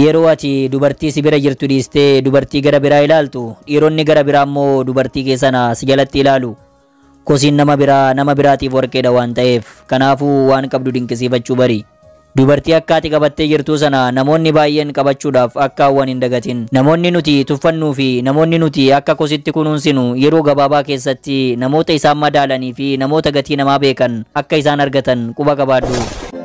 Yeroo ati dubartii si bira jirtu dhiistee dubartii gara biraa ilaaltu dhiironni gara biraa immoo dubartii kee sana si jalatti ilaalu. Kosiin nama biraa nama biraatiif warqeedha waan ta'eef kanaafuu waan qabdu dinqisiifachuu bari. Dubartii akka ati qabattee jirtuu sana namoonni baay'een qabachuudhaaf akka hawwan hin dagatin. Namoonni nuti tuffannuu fi namoonni nuti akka kositti kunuunsinu yeroo gabaabaa keessatti namoota isaan madaalanii fi namoota gatii namaa beekan akka isaan argatan quba qabaadhu.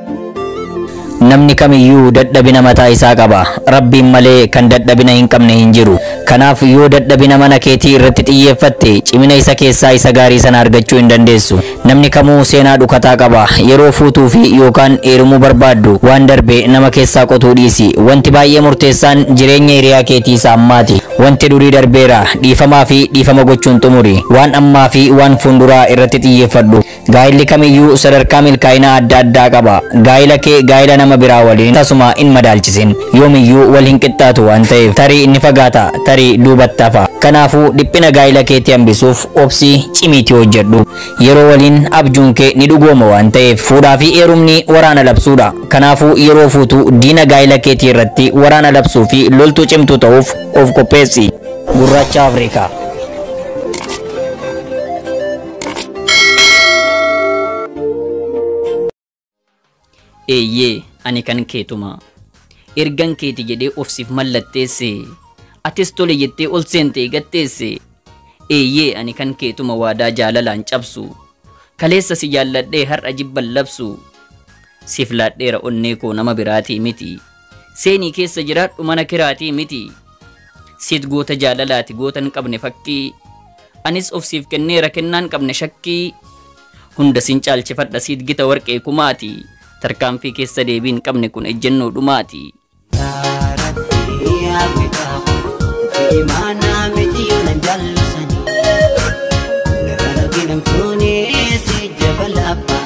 Namni kamiyyuu dadhabina mataa isaa qaba. Rabbiin malee kan dadhabina hin qabne hin jiru. Kanaaf yoo dadhabina mana keetii irratti xiyyeeffatte cimina isa keessaa isa gaarii sana argachuu hin dandeessu. Namni kamuu seenaa dhukataa qaba. Yeroo fuutuu fi yookaan heerumuu barbaaddu waan darbe nama keessaa qotuu dhiisi. Wanti baay'ee murteessaan jireenya hiriyaa keetii isa ammaati. Wanti durii darbeera. Dhiifamaa fi dhiifama gochuun xumuri. Waan ammaa fi waan fuunduraa irratti xiyyeeffadhu. Gaa'illi kamiyyuu sadarkaa milkaa'inaa adda addaa qaba. Gaa'ila kee gaa'ila nama biraa waliin tasuma hin madaalchisin. Yoomiyyuu wal hin qixxaatu waan ta'eef. Tarii ni fagaata, tarii duubatti hafa. Kanaafuu dhiphina gaa'ila keetii hambisuuf obsi, cimiitii hojjedhu. Yeroo waliin abjuun kee ni dhugooma waan ta'eef. Fuudhaa fi heerumni waraana labsuudha. Kanaafuu yeroo fuutu diina gaa'ila keetii irratti waraana labsuu fi loltuu cimtuu ta'uuf of qopheessi. Gurraacha Afrikaa. eeyyee ani kan keetuma ergan keeti jedhee of siif mallatteesse atis tole jettee ol seentee gatteesse eeyyee ani kan keetuma waadaa jaalalaan cabsu kaleessa si jaalladhee har'a jibban labsu siif laadheera onnee koo nama biraatii miti Seenii keessa jiraadhu mana kiraatii miti Seet goota jaalalaati goota hin qabne fakkii Anis of siif kenneera kennaa hin qabne shakkii Hunda sin caalchifadha siit gita warqee kumaati Tarkaanfii keessa deebii hin qabne kun ejjennoo dhumaati. Yaa Rabbi yaa Gooftaa koo imaanaa miti nan jaallisanii Narra arginamtuunis jabala abbaa